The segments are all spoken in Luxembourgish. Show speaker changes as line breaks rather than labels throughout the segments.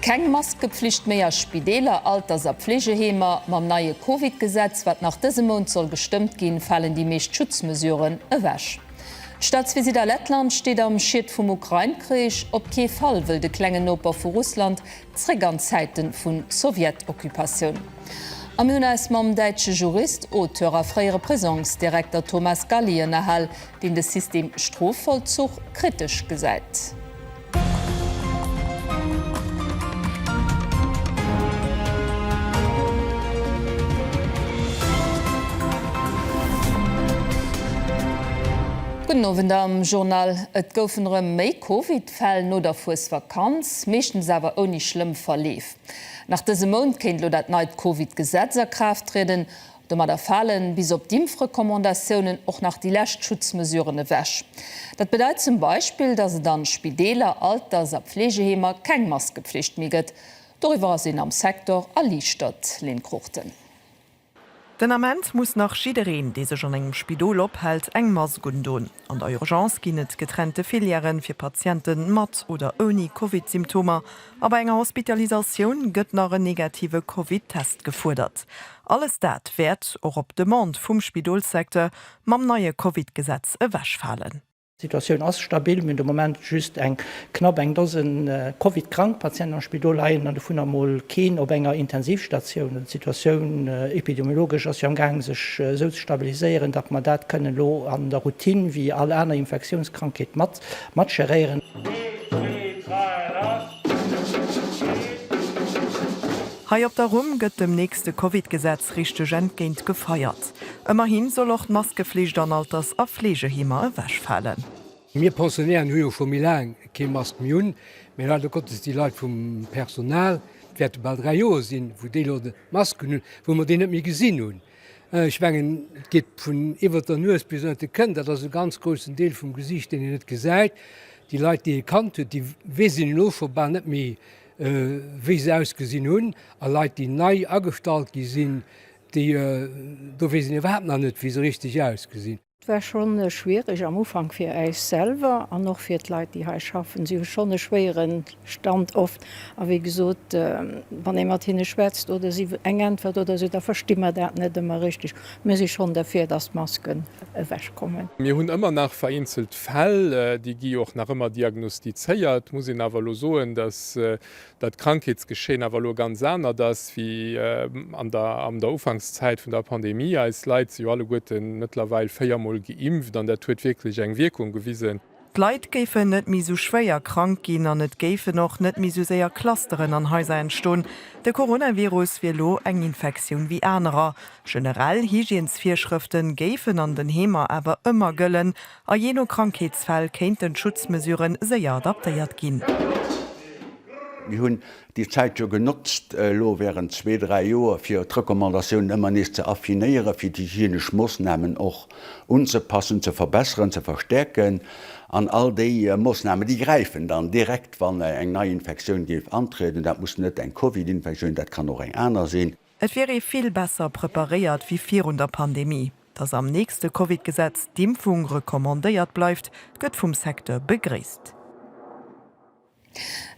Keng Maskepflicht méi a Spideeler, Alters a Pfleegeheemer, Mam neie Covid-Gesetz, wat nach dëse Mount soll gestëmmt ginn, falen déi meescht Schutzmesuren ewech. D'Staatsvisitt a Lettland steet am Schiet vum Ukrain-Krich, Op kee Fall wëll de klengen Noper vu Russland zréck an d'Zäite vu Sowjet-Occupatioun. A mir hunn eis mam däitsche Jurist, Auteur a fréiere Prisongsdirekter Thomas Galli ënnerhal, deen de System Strofvollzuch kritesch gesäit. Gudden Owend am Journal. Et goufen erëm méi Covid-Fäll no der Fuesvakanz, meeschtens awer ouni schlëmm Verleef. Nach dëse Mount kéint elo dat neit Covid-Gesetz a Kraaft trieden. Domadder falen bis op d'Impfrecommandatiounen och nach déi lescht Schutzmesuren ewech. Dat bedeit zum Beispill, dass et an Spideeler, Alters a Pflegeheemer keng Maskepflicht méi gëtt. Doriwwer ass een am Secteur erliichtert, Lynn Cruchten.
Den Ament muss nach jiddereen, dee sech an engem Spidol ophält, eng Mask undon. An der Urgence ginn et getrennte Filièren fir Patiente mat oder ouni Covid-Symptomer a bei enger Hospitalisatioun gëtt nach en negative Covid-Test gefuerdert. Alles dat wäert, och op Demande vum Spidolssecteur, mam neie Covid-Gesetz ewechfalen. D'Situatioun ass
stabil, mir hunn de Moment just eng Knapp eng Dosen Covid-krank Patienten am Spidol leien an dovunner mol keen op enger Intensivstatioun. An d'Situatioun epidemiologesch ass jo am Gaang sech esou ze stabiliséieren, datt mer dat kënnen elo an der Routine wéi all aner Infektiounskrankheet mat matgeréieren.
Hei op der Rumm gëtt dem nächste Covid-Gesetz richteg entgéint gefeiert. Ëmmerhi soll och d'Maskeflicht an Alters a Fleegeheemer ewechfalen. Mir Pensionären
hu jo scho méi laang kee Mast méi un, mä leider Gottes déi Leit vum Personal, et wäerte bal dräi Joer sinn, wou déi elo d'Masken hunn, wou mer déi net méi gesinn hunn. Ech mengen, et geet vun iwwert der Nues bis ënnert de Kënn, dat ass e ganz groussen Deel vum Gesiicht, deen een net gesäit. Déi Leit, déi ee kannt huet, déi wésen elo scho bal net méi, wéi se ausgesinn hunn. A Leit, déi nei agestallt gi sinn, déi, do weess een iwwerhaapt nach net, wéi se richteg ausgesinn. Et war schonn
schwiereg am Ufank fir äis selwer an och fir d'Leit, déi hei schaffen. Si hu schonn e schwéiere Stand oft. A wéi gesot, wann ee mat hinne schwätzt oder si eng Äntwert oder esou, da versti mer dat net ëmmer richteg. Mir si schonn derfir, datt d'Masken ewechkommen. Mir hunn ëmmer nach
vereenzelt Fäll, déi gi och nach ëmmer diagnostizéiert. Muss een awer elo soen, datt datt d'Krankheetsgeschehen awer elo ganz anert ass wéi an der an der Ufankszäit vun der Pandemie. Eis Leit si jo alleguerten mëttlerweil véiermol geimpft an dat huet wierklech eng Wierkung gewisen. D'Leit géifen
net méi esou schwéier krank ginn an et géifen och net méi esou séier Clusteren an Haiser entstoen. De Coronavirus wier elo eng Infektioun wéi anerer. Generell Hygiensvirschrëfte géifen an den Heemer awer ëmmer gëllen A jee no Krankheetsfäll kéinten d'Schutzmesurë séier adaptéiert ginn.
Mir hunn déi Zäit jo genotzt elo während zwee, dräi Joer, fir d'Recommandatiounen ëmmer nees ze affinéieren, fir d'hygienesch Moosnamen och unzepassen, ze verbesseren, ze verstärken. An all déi Moosnamen, déi gräifen dann direkt, wann eng nei Infektioun géif antrieden. Dat muss net eng Covid-Infektioun, dat kann och eng aner sinn. Et wier ee vill
besser preparéiert wéi virun der Pandemie. Datt am nächste Covid-Gesetz d'Impfung recommandéiert bleift, gëtt vum Secteur begréisst.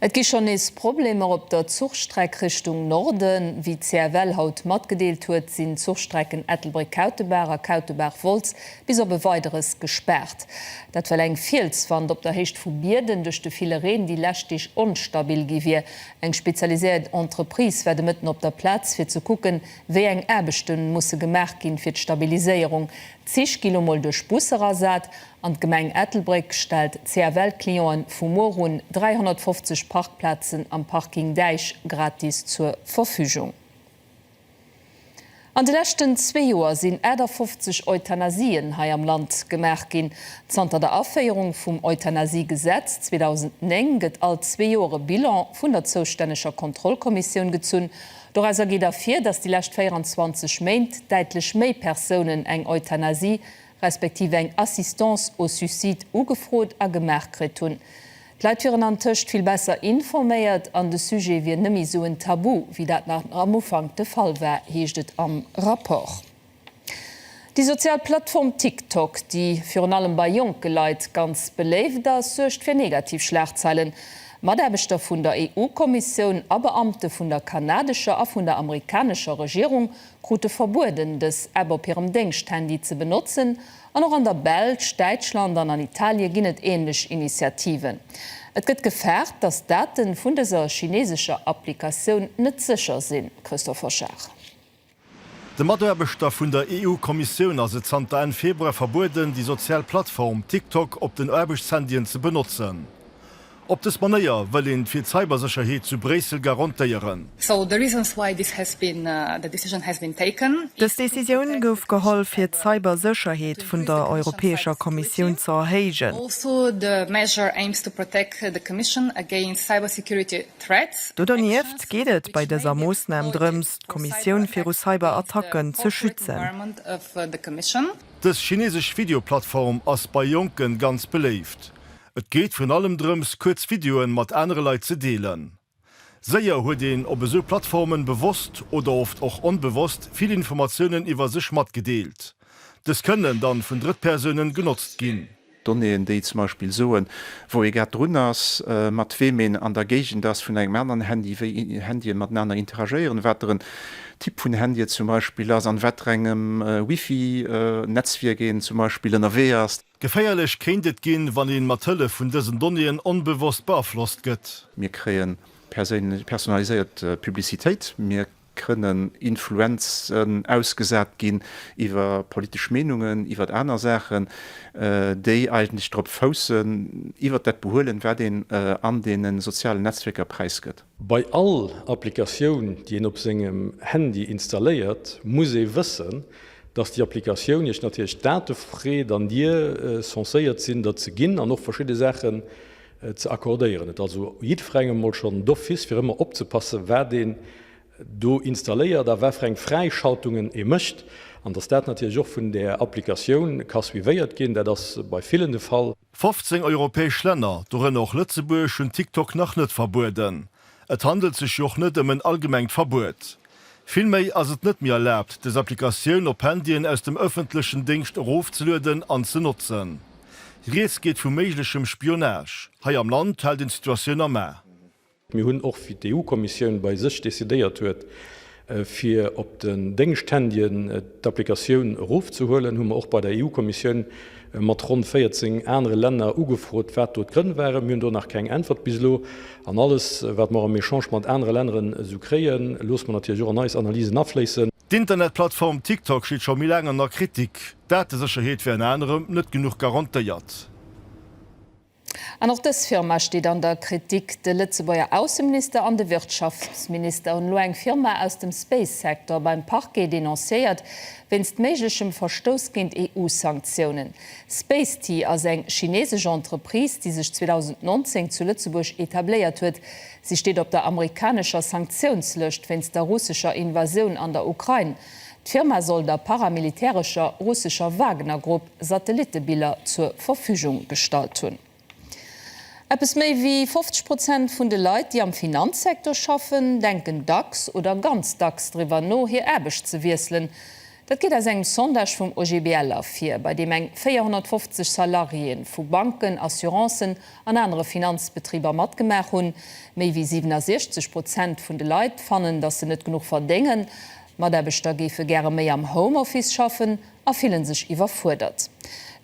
Et gi schonn nees Problemer op der Zuchstreck Richtung Norden. Wéi d'CFL haut matgedeelt huet, sinn d'Zuchstrecken Ettelbréck-Kautebaach a Kautebaach-Wolz bis op e Weideres gespaart. Dat well eng Fielswand op der Héicht vu Bierden duerch de ville Reen déi lescht Deeg onstabil gi wier. Eng spezialiséiert Entreprise war de Mëtten op der Plaz, fir ze kucken, wéi eng Aarbechte musse gemaach ginn, fir d'Stabiliséierung. D'Zich gi lo mol duerch Busser ersat an d'Gemeng Ettelbréck stellt CFL-Clienten vu muer un 350 Parkplazen am Parking Däich gratis zur Verfügung. An de leschten zwee Joer sinn 58 Euthanasien hei am Land gemaach ginn. Zanter der Aféierung vum Euthanasie-Gesetz 2009 gëtt all zwee Joer e Bilan vun der zoustänneger Kontrollkommissioun gezunn. Dorauser geet ervir, dass déi lescht 24 Méint däitlech méi Persounen eng Euthanasie respektiv eng Assistance au suicide ugefrot a gemaach kritt hunn. D'Leit wieren antëscht vill besser informéiert an de Sujet wier nëmme esou en Tabu, wéi dat nach am Ufank de Fall war, heescht et am Rapport. Déi sozial Plattform TikTok, déi virun allem bei jonke Leit ganz beléift ass, suergt fir negativ Schlagzeilen. Mataarbechter vun der EU-Kommissioun a Beamte vun der kanadescher a vun der amerikanescher Regierung krute verbueden, dës App op hirem Déngschthandy ze benotzen. An och an der Belsch, Däitschland an an Italie ginn et änlech Initiativen. Et gëtt gefaart, datt d'Date vun dëser chineesescher Applikatioun net sécher sinn, Christophe Hochard.
De Mataarbechter vun der EU-Kommissioun ass et zanter Enn Februar verbueden, déi sozial Plattform TikTok op den Aarbechtshandyen ze benotzen. Op dës Manéier wëll een fir d'Cybersécherheet zu Bréissel garantéieren. So the reasons
why this has been, the decision has been taken. Dës Decisioun
gouf geholl fir d'Cybersécherheet vun der Europäescher Kommissioun ze erhéijen. Also the
measure aims to protect the Commission against cybersecurity threats. Do dernieft geet et
bei dëser Moossnam drëms, d'Kommissioun viru Cyberattacken ze schützen.
Dës chinesesch Videoplattform ass bei Jonken ganz beléift. Et geet virun allem drëms, kuerz Videoen mat anere Leit ze deelen. Séier huet een op esou Plattformen, bewosst oder oft och onbewosst, vill Informatiounen iwwer sech matgedeelt. Dës kënnen dann vun Drëttpersounen genotzt ginn. Donnéeën, déi zum
Beispill soen, wou ee grad drun ass, mat weem een an der Géigend ass vun engem aneren Handy, wéi Handyen matenaner interagéieren, wat der en Typ vun Handy et zum Beispill ass, an wat rengem Wifi-Netzwierk een zum Beispill ënnerwee ass. Geféierlech kéint et
ginn, wann een mat Hëllef vun dësen Donnéeën onbewosst beaflosst gëtt. Mir kréien
perséinlech personaliséiert Publicitéit, mir kënnen Influenzen ausgesat ginn iwwer politesch Meenungen, iwwer aner Saachen, déi eigentlech drop foussen, iwwer dat behuelen, wat een an deene sozialen Netzwierker präisgëtt. Bei all
Applikatioun, déi een op sengem Handy installéiert, muss ee wëssen, datt déi Applikatioun Iech natierlech Date freet an Dir censéiert sinn, der ze ginn an och verschidde Saachen ze accordéieren. Et also jiddferengem emol schonn d'office, fir ëmmer opzepassen, wat een do installéiert a wat fir eng Fräischaltungen ee mécht an datt dat natierlech och vun där Applikatioun ka suivéiert ginn. Dat ass bei villen de Fall. 15 europäesch
Länner, dorënner och Lëtzebuerg, hunn TikTok nach net verbueden. Et handelt sech jo och net ëm en allgemengt Verbuet. Villméi ass et net méi erlaabt, des Applikatioun op Handyen aus dem ëffentlechen Déngscht erofzelueden an ze notzen. Rieds geet vu méiglechem Spionage. Hei am Land hält een d'Situatioun am A. Mir hunn och,
wéi d'EU-Kommissioun bei sech decidéiert huet, fir op den Déngschthandyen d'Applikatioun erofzehuelen, hu mer och bei der EU-Kommissioun mat ronn 14 anere Länner ugefrot, wat do d'Grënn waren. Mir hunn do nach keng Äntwert bis elo. An alles, wat mer am Echange mat anere Länneren esou kréien, loosse mer natierlech och an eis Analysen afléissen. D'Internetplattform
TikTok steet scho méi laang an der Kritik. D'Datesécherheet wier ënner anerem net genuch garantéiert.
An och dës Firma steet an der Kritik. De Lëtzebuerger Ausseminister an de Wirtschaftsminister hunn elo eng Firma aus dem Space-Secteur beim Parquet denoncéiert, wéinst méiglechem Verstouss géint EU-Sanktiounen. Spacety ass eng chinesesch Entreprise, déi sech 2019 zu Lëtzebuerg etabléiert huet. Si steet op der amerikanescher Sanktiounslëscht wéinst der russescher Invasioun an der Ukrain. D'Firma soll der paramilitärescher russescher Wagner-Grupp Satellittebiller zur Verfügung gestallt hunn. Eppes méi wéi 50 Prozent vun de Leit, déi am Finanzsektor schaffen, denken dacks oder ganz dacks driwwer no, hir Aarbecht ze wiesselen. Dat geet aus engem Sondage vum OGBL ervir, bei deem eng 450 Salariéeë vu Banken, Assurancen an anere Finanzbetriber matgemaach hunn. Méi wéi 67 Prozent vun de Leit fannen, datt se net genuch verdéngen. Mataarbechter géife gäre méi am Homeoffice schaffen. a fillen sech iwwerfuerdert.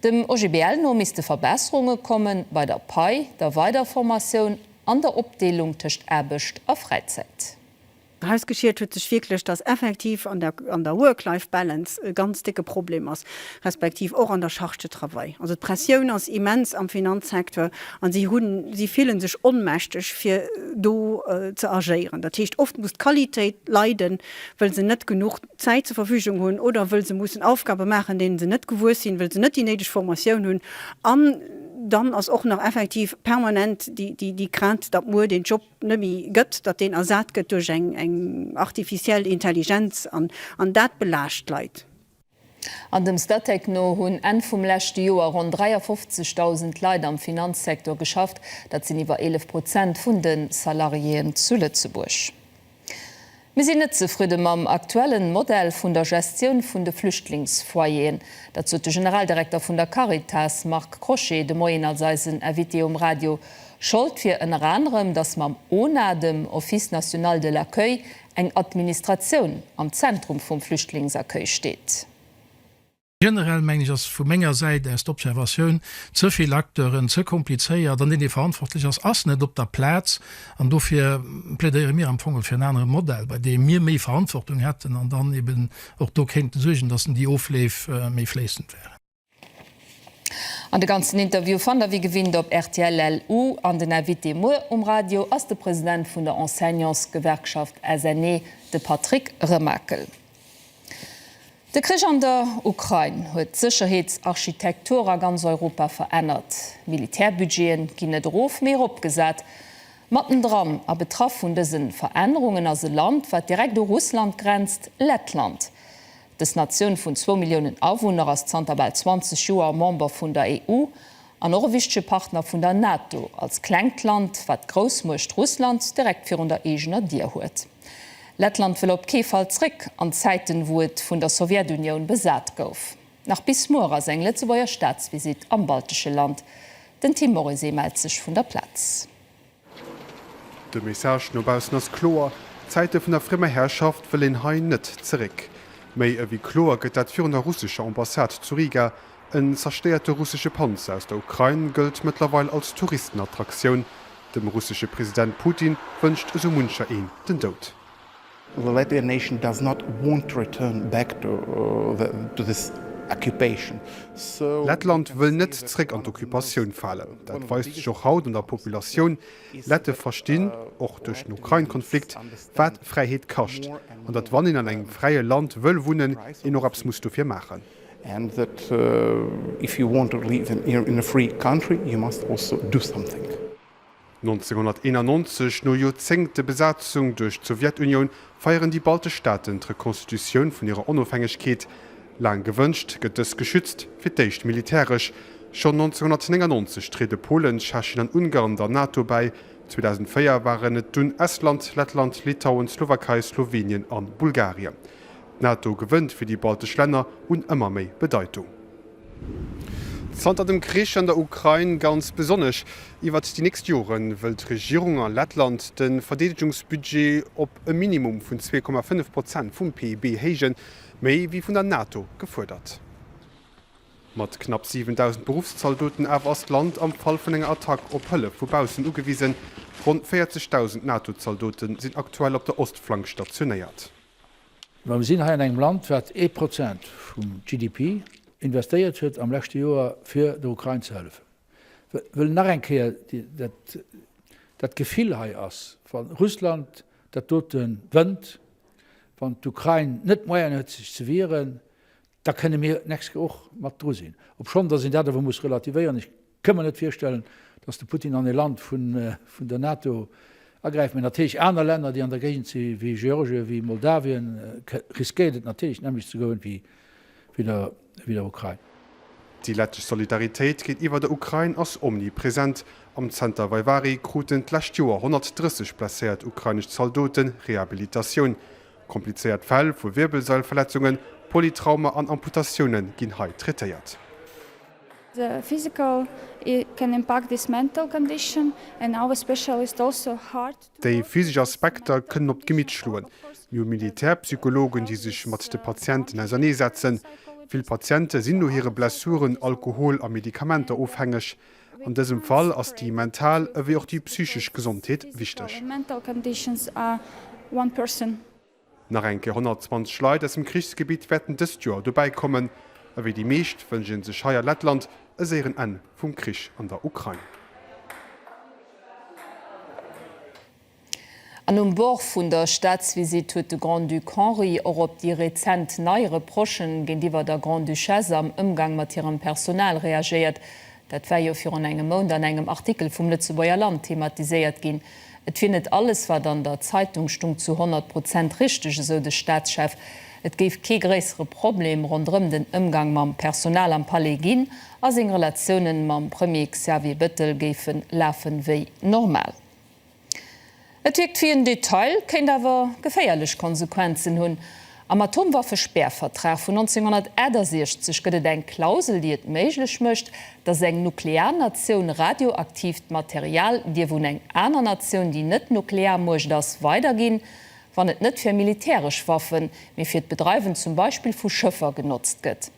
Dem OGBL no misste Verbesserunge komme bei der Pai, der Weiderformatioun an der Opdeelung tëscht Aarbecht a Fräizäit. Erausgeschiet
huet sech wierklech, datt effektiv an der Work-Life-Balance e ganz décke Problem ass, respektiv och an der Charge de travail. Also d'Pressioun ass immens am Finanzsecteur a si hunn, si fille sech onmächteg fir do ze agéieren. Dat heescht, oft muss d'Qualitéit leiden, wëll se net genuch. Zäit zur Verfügung hunn oder wëll se mussen Aufgabe maachen, deenen se net gewuess sinn, wëll se net déi néideg Formatioun hunn. An dann ass och nach effektiv permanent déi Crainte, datt muer deen Job net méi gëtt, datt deen ersat gëtt duerch eng artificielle Intelligenz. An dat belaascht d'Leit. An
dem Statec no hunn Enn vum leschte Joer ronn 53.000 Leit am Finanzsecteur geschafft. Dat sinn iwwer 11 Prozent vun de Salariéeën zu Lëtzebuerg. Mir sinn net zefridde mam aktuellen Modell vun der Gestioun vun de Flüchtlingsfoyeren. Dat sot de Generaldirekter vun der Caritas, Marc Crochet, de Moien als eisen Invité um Radio. Schold wier ënner anerem, datt mam ONA, dem Office national de l'accueil, eng Administratioun am Zentrum vum Flüchtlingsaccueil steet.
Generell, mengen ech, ass vu menger Säit aus d'Observatioun, ze vill Acteuren, ze komplizéiert, an deen dee verantwortlech ass, ass net op der Plaz. An dofir plädéiere mir am Fong och fir en anere Modell, bei deem mir méi Verantwortung hätten an dann eben och do kéinte suergen, datt en déi Ofleef méi fléissend wären.
An de ganzen Interview fannt der wéi gewinnt op rtl-LU. An den Invité muer um Radio ass de President vun der Enseignantsgewerkschaft SNE, de Patrick Remakel. De Krich an der Ukrain huet d'Sécherheetsarchitektur a ganz Europa verännert. D'Militärbudgete ginn net erof, mee eropgesat. Mattendran a betraff vun dëse Verännerungen ass e Land, wat direkt u Russland grenzt, Lettland. Dës Natioun vun zwou Milliounen Awunner ass zanter bal 20 Joer Member vun der EU an och e wichtege Partner vun der NATO, als klengt Land, wat d'Groussmuecht Russland direkt virun der eegener Dier huet. Lettland wëll op kee Fall zréck an d'Zäiten, wou et vun der Sowjetunioun besat gouf. Nach bis muer ass eng Lëtzebuerger Staatsvisitt am baltesche Land. Den Tim Moryse mellt sech vun der Plaz.
De Message no baussen ass kloer, D'Zäite vun der friemer Herrschaft wëll een hei net zeréck. Méi ewéi kloer gëtt dat virun der russescher Ambassade zu Riga, En zerstéierte russesche Panzer aus der Ukrain gëllt mëttlerweil als Touristenattraktioun. Dem russesche President Putin wënscht esou muncher een den Doud. The Latvian
nation does not want to return back to this occupation, so. Lettland wëll net
zréck an d'Occupatioun falen. Dat weist sech och haut an der Populatioun. Lette verstinn, och duerch den Ukrain-Konflikt, wat Fräiheet kascht, an datt wann een an engem fräie Land wëll wunnen, een och eppes muss dofir maachen. And that
if you want to live in a free country you must also do something. 1991,
no Joerzéngte Besatzung duerch d'Sowjetunioun, feieren déi baltesch Staaten d'Rekonstitutioun vun hirer Onofhängegkeet. Laang gewënscht, gëtt dës geschützt, fir d'éischt militäresch. Schonn 1999 triede Polen, Tschechien an Ungarn der NATO bäi. 2004 waren et dunn Estland, Lettland, Litauen, d'Slowakei, Slowenien a Bulgarien. D'NATO gewënnt fir déi baltesch Länner un ëmmer méi Bedeitung. Zanter dem Krich an der Ukrain ganz besonnesch. Iwwert déi nächst Jore wëll d'Regierung a Lettland de Verdeedegungsbudget op e Minimum vun 2,5 Prozent vum PIB héijen, méi wéi vun der NATO gefuerdert. Mat knapp 7.000 Beruffszaldoten awer ass d'Land am Fall vun enger Attack op Hëllef vu baussen ugewisen. Ronn 40.000 NATO-Zaldote sinn aktuell op der Ostflank stationéiert. Mä mir
sinn hei an engem Land, wat ee Prozent vum GDP investéiert huet am leschte Joer, fir der Ukrain ze hëllefen. Ech wëll nach eng Kéier dat Gefill hei ass, wa Russland dat dote wënnt, wann d'Ukrain net d'Moyene huet sech ze wieren, da kënne mir d'nächst Kéier och mat dru sinn, obschonn datt een dat awer muss relativéieren, ech kënn mer net virstellen, datt de Putin an e Land vun der NATO agräift, mä natierlech aner Länner, déi an der Géigend si wéi Georgien, wéi Moldawien, riskéiert et natierlech d'nämmlecht ze goen wéi der Ukrain. Déi lettesch
Solidaritéit géintiwwer der Ukrain ass omnipresent. Am Zenter Vaivari kruten d'lescht Joer 130 blesséiert ukrainesch Zaldote Rehabilitatioun. Komplizéiert Fäll vu Wierbelsailverletzungen, Polytrauma an Amputatioune ginn hei traitéiert. The
physical can impact this mental condition and our special is also hard to work with. Déi physesch
Aspekter kënnen op d'Gemitt schloen. Mir hu Militärpsychologen, déi sech mat de Patienten ausernee setzen. Vill Patiente sinn no hire Blessuren alkohol a Medikamenter ofhängeg. An dësem Fall ass déi mental ewéi och déi psychesch Gesondheet
wichteg. Nach eng
Kéier 120 Leit aus dem Krichsgebitt wäerten dëst Joer dobäi kommen. Ewéi déi meescht wënscht ee sech hei a Lettland e séieren Enn vum Krich an der Ukrain.
An um Bord vun der Staatsvisitt huet de Grand-Duc Henri och op déi rezent nei Reprochen géintiwwer der Grande-Duchesse am Ëmgang mat hirem Personal reagéiert. Dat war jo virun engem Mount an engem Artikel vum Lëtzebuerger Land thematiséiert ginn. Et wier net alles, wat an der Zeitung stung, zu 100 Prozent richteg, esou de Staatschef. Et géif kee gréissere Problem ronderëm den Ëmgang mam Personal am Palais ginn a seng Relatiounen mam Premier Xavier Bettel géife lafen, wéi normal. Et wierkt wéi en Detail, kéint awer geféierlech Konsequenzen hunn. Am Atomwaffespäervertrag vun 1968 gëtt et eng Klausel, déi et méiglech mécht, datt eng nuklear Natioun radioaktiivt Material dierf un eng aner Natioun, déi net Nuklearmuecht ass, weiderginn, wann et net fir militäresch Waffen, mee fir d'Bedreiwen zum Beispill vu Schëffer genotzt gëtt.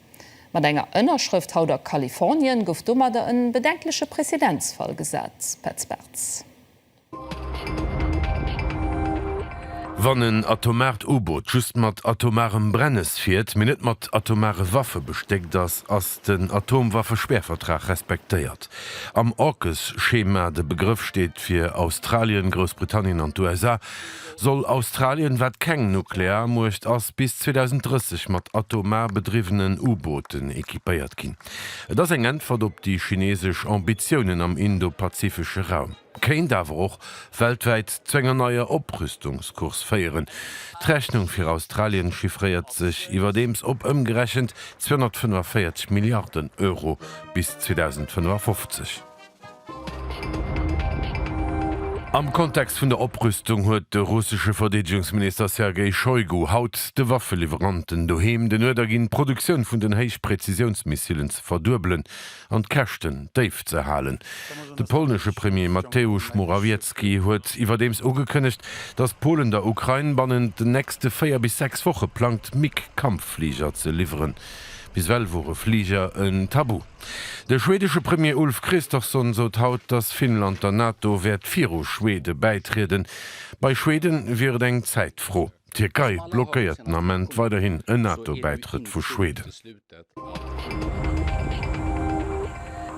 Mat enger Ënnerschrëft haut a Kalifornien gouf domadder en bedenkleche Präzedenzfall gesat. Petz Bartz.
Wann en atomart U-Boot just mat atomarem Brennes fiert, mee net mat atomare Waffe bestéckt ass, ass den Atomwaffespäervertrag respektéiert. Am AUKUS-Schema, de Begrëff steet fir Australien, Groussbritannien an d'USA, Soll Australien, wat keng Nuklearmuecht ass, bis 2030 mat atomar bedriwwenen U-Booten equipéiert ginn? Et ass eng Äntwert op déi chinesesch Ambitiounen am indo-pazifesche Raum, kéint awer och weltwäit zu enger neier Oprüstungscourse féieren. D'Rechnung fir Australien chiffréiert sech iwwerdeems op ëmgerechent 245 Milliarden Euro bis 2055. Am Kontext vun der Oprüstung huet de russesche Verdeedegungsminister Sergei Shoigu haut de Waffeliwweranten doheem den Uerder ginn, d'Produktioun vun den Héichpräzisiounsmissilen ze verduebelen an d'Käschten déif ze halen. De polnesche Premier Mateusz Morawiecki huet iwwerdeems ugekënnegt, datt Polen der Ukrain bannent den nächste véier bis sechs Woche plangt, MiG-Kampffliger ze liwweren. Bis ewell wore Fliger en Tabu. De schweedesche Premier Ulf Kristersson sot haut, datt Finnland der NATO wäert viru Schwede bäitrieden. Bei Schwede wier et eng Zäitfro. D'Tierkei blockéiert den Ament weiderhin en NATO-Bäitrëtt vu Schweden.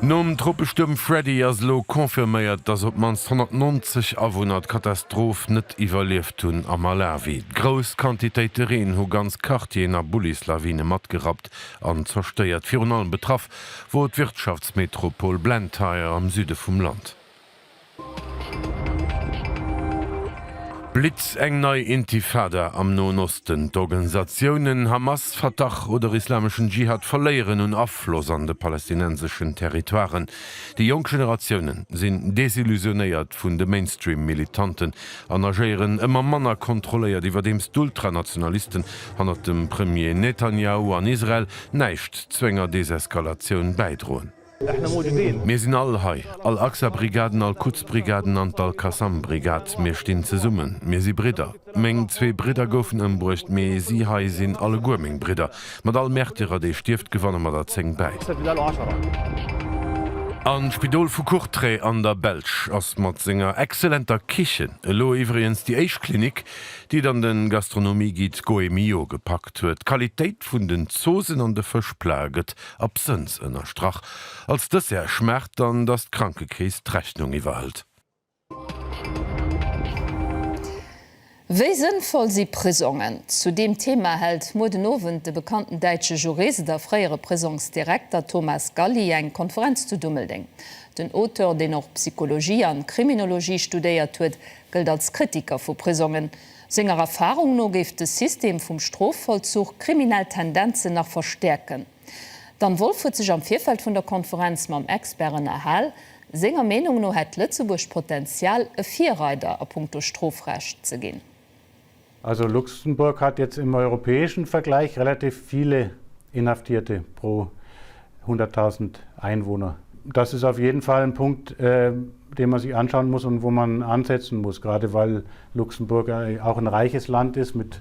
Nom Tropestuerm Freddy ass elo confirméiert, datt op d'mannst 190 Awunner d'Katastroph net iwwerlieft hunn a Malawi. Grouss Quantitéite Reen hu ganz Quartieren a Bullislawine matgerappt. geschwächt an zerstéiert. Virun allem betraff wor d'Wirtschaftsmetropol Blantyre am Süde vum Land. Blitz, eng nei Intifada am Noen Osten, d'Organisatiounen Hamas, Fatah oder Islameschen Dschihad verléieren un Afloss an de palästinenseschen Territoiren, déi jonk Generatiounen sinn desillusionéiert vun de Mainstream-Militanten, an agéieren ëmmer manner kontrolléiert, iwwerdeems d'Ultranationalisten hannert dem Premier Netanjahu an Israel näischt zu enger Deseskalatioun bäidroen. Mir sinn all hei, all Aqsa-Brigaden, all Quds-Brigaden an d'Al-Qassam-Brigad. Mir stinn zesummen. Mir si Bridder. Meng zwee Bridder goufen ëmbruecht, mee si hei sinn alleguer meng Bridder. Mat all Märtyrer, dee stierft, gewanne mer der zéng bäi. Am Spidol vu Courtrai an der Belsch ass mat senger exzellenter Kichen elo iwwregens déi éischt Klinik, déi et an de Gastronomie-Guide Goemio gepackt huet. D'Qualitéit vun den Zoosen an de Fëschplaë gëtt absënns ënnerstrach. Als Dessert schmaacht dann, datt d'Krankekeess d'Rechnung iwwerhëlt.
Wéi sënnvoll si Prisongen? Zu deem Thema hält muer den Owend de bekannten däitsche Jurist a fréiere Prisongsdirekter Thomas Galli eng Konferenz zu Dummeldeng. Den Auteur, deen och Psychologie an Kriminologie studéiert huet, gëllt als Kritiker vu Prisongen. Senger Erfarung no géif de System vum Strofvollzuch kriminell Tendenzen nach verstäerken. Dan Wolf huet sech am Virfeld vun der Konferenz mam Expert ënnerhal. Senger Meenung no hätt Lëtzebuerg d'Potenzial, e Virreider a punkto Strofrecht ze ginn. Also
Luxemburg hat jetzt im europäischen Vergleich relativ viele Inhaftierte pro 100.000 Einwohner. Das ist auf jeden Fall ein Punkt, den man sich anschauen muss und wo man ansetzen muss, gerade weil Luxemburg auch ein reiches Land ist mit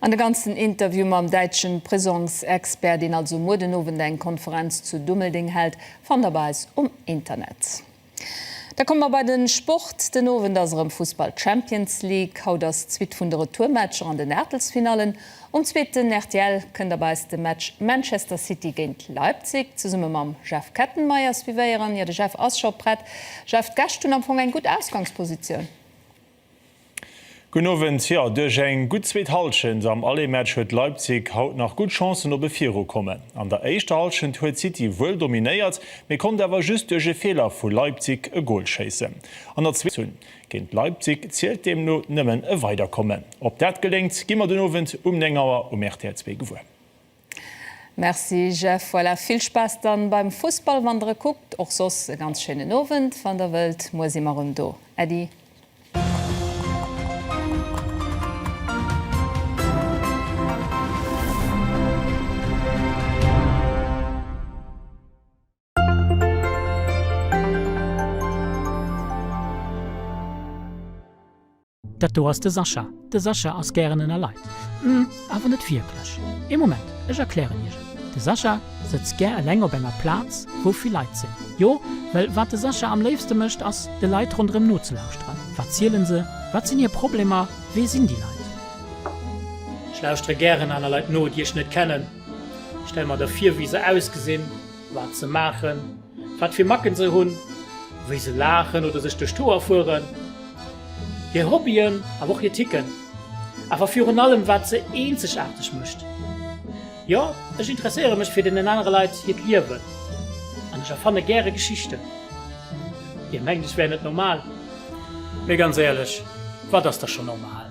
An de ganzen Interview mam däitschen Prisongs-Expert, deen also muer den Owend eng Konferenz zu Dummeldeng hält, fannt der bei eis um Internet. Da komme mer bei den Sport. Den Owend ass erëm Fussball Champions League. Haut ass d'Suite vun de Retourmatcher an den Aachtelsfinallen. Um zweeten rtl kënnt der bei eis de Match Manchester City géint Leipzig zesumme mam Jeff Kettenmeyer suivéieren. Jo, de Jeff ass scho prett. Jeff, d'Gäscht hunn am Fong eng gutt Ausgangspositioun.
Gudden Owend, jo duerch eng gutt zweet Hallschent am Aller-Match huet Leipzig haut nach gutt Chancen op e Virukommen. An der éischter Hallschent huet City wuel dominéiert, mee konnt awer just duerch e Feeler vu Leipzig e Gol schéissen. An der zweeter Hallschent hunn géint Leipzig zielt deemno nëmmen e Weiderkommen. Ob dat geléngt, gi mer den Owend um 9 Auer um rtl Zwee gewuer.
Merci Jeff, voilà vill Spaass dann beim Fussball wann der e kuckt, och soss e ganz schéinen Owend wann der wëllt, muer si mer rëm do, äddi.
Dat do ass de Sascha. De Sascha ass gären ënner Leit. Hm, awer net wierklech. Ee Moment, ech erklären iech et. De Sascha sëtzt gär eleng op enger Plaz, wou vill Leit sinn. Jo, well wat de Sascha am léifste mécht, ass, de Leit ronderëm nozelauschteren. Wat zielen se? Wat sinn hir Problemer? Wee sinn déi Leit? Ech lauschtere
gären aner Leit no, déi ech net kennen. Ech stelle mer da vir, wéi se ausgesinn. wat se maachen, wat fir Macken se hunn, wéi se laachen oder sech duerch d'Hoer fueren, hir Hobbyen, awer och hir Ticken, awer virun allem wat se eenzegaarteg mécht. Jo, ech interesséiere mech fir deenen anere Leit hiert Liewen an ech erfanne gäre Geschichten. Dir mengt ech wär net normal, mee ganz éierlech, wat ass da schonn normal?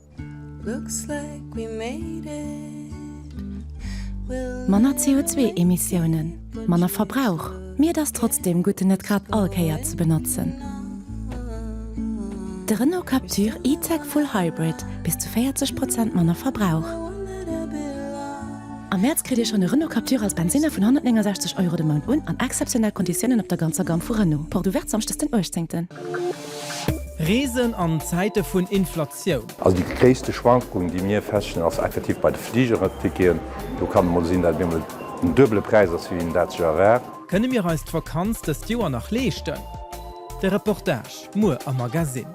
Manner CO2-Emissiounen, manner Verbrauch, mee et ass trotzdeem gutt en net grad all Kéier ze benotzen. De Renault Captur E-Tech Full Hybrid, bis zu 40 Prozent manner Verbrauch. Am Mäerz kritt Dir schonn e Renault Captur als Bensinner vun 169 Euro de Mount un an exzeptionell Konditiounen op der ganzer Gamme vu Renault. Porte ouverte samschdes den 18.
Reesen an Zäite vun Inflatioun. Also déi gréisste
Schwankung, déi mir feststellen, ass effektiv bei de Fligerticketen. Do kann et mol sinn, datt et bemol den duebele Präis ass, wéi een dat sech erwaart. Kënne mir eis
d'Vakanz dëst Joer nach leeschten? De Reportage muer am Magasinn.